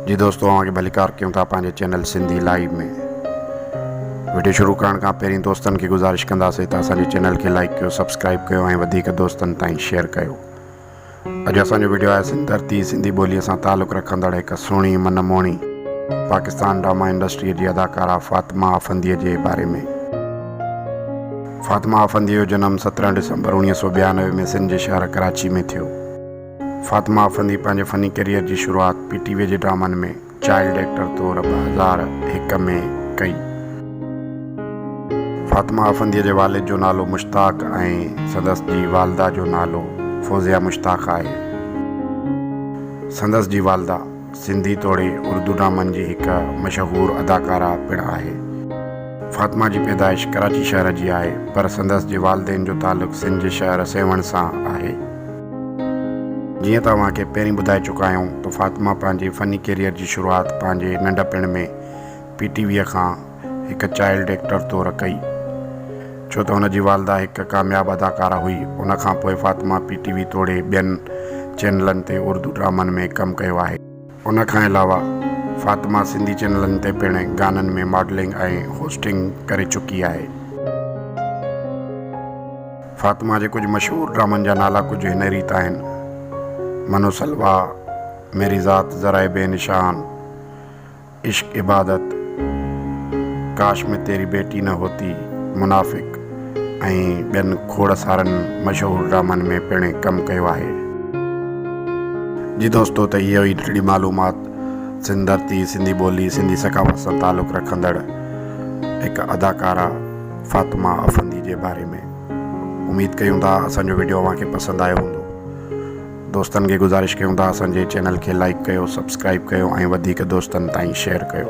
جي دوستو اوهان کي ڀليڪار ڪيون ٿا پنهنجي چينل سنڌي لائيو ۾ وڊيو شروع ڪرڻ کان پهرين دوستن کي گذارش ڪنداسي ته اسان جي چينل کي لائيڪ ڪيو سبسڪرائيب ڪيو ۽ وڌيڪ دوستن تائين شيئر ڪيو اڄ اسان جو وڊيو آهي سنڌ ڌرتي سنڌي ٻولي سان تعلق رکندڙ هڪ سهڻي من موهڻي پاڪستان ڊراما انڊسٽري جي اداڪارا فاطمه آفندي جي باري ۾ فاطمه آفندي جو جنم سترهن ڊسمبر اوڻيهه سو ٻيانوي ۾ سنڌ جي شهر ڪراچي ۾ ٿيو فاطمه افندي پنهنجي فني ڪيريئر جي شروعات پي ٽي ويء جي ڊرامن ۾ چائلڊ ايڪٽر طور ٻه هزار هڪ ۾ ڪئي. فاطمه افنديء جي والد جو نالو مشتاق ۽ سندس جي والده جو نالو فوزيه مشتاق آهي. سندس جي والده سنڌي توڙي اردو ڊرامن جي هڪ مشهور اداڪاره پڻ آهي. فاطمه جي پيدائش ڪراچي شهر جي آهي پر سندس جي والدين جو تعلق سنڌ جي شهر سيوهڻ سان آهي. جيئن ته اوهان کي پهرين ٻڌائي چڪا آهيون ته فاطمه پنهنجي فني ڪيريئر جي شروعات پنهنجي ننڍپڻ ۾ پي ٽي ويء کان هڪ چائلڊ ايڪٽر طور ڪئي ڇو ته هن جي والده هڪ ڪامياب اداڪاره هئي ان کانپوء فاطمه پي ٽي وي توڙي ٻين چينلن تي اردو ڊرامن ۾ ڪم ڪيو آهي. ان کان علاوه فاطمه سنڌي چينلن تي پڻ گانن ۾ ماڊلنگ ۽ هوسٽنگ ڪري چڪي آهي. فاطمه جي ڪجهه مشهور ڊرامن جا نالا ڪجهه هن ريت آهن، منو سلوا، ميري ذات ذرائع بي نشان، عشق عبادت، ڪاش مين تيري بيٽي نه هوتي، منافق، ۽ ٻين کوڙ سارن مشهور ڊرامن ۾ پڻ ڪم ڪيو آهي. جي دوستو ته اهي هئي ننڍڙي معلومات سنڌ ڌرتي، سنڌي ٻولي، سنڌي ثقافت سان تعلق رکندڙ هڪ اداڪارا فاطمه افندي جي باري ۾. اميد ڪيون ٿا اسان جو وڊيو اوهان کي پسند آيو هوندو. دوستن کي گذارش ڪيون ٿا اسان جي چينل کي لائيڪ ڪيو، سبسڪرائيب ڪيو ۽ وڌيڪ دوستن تائين شيئر ڪيو.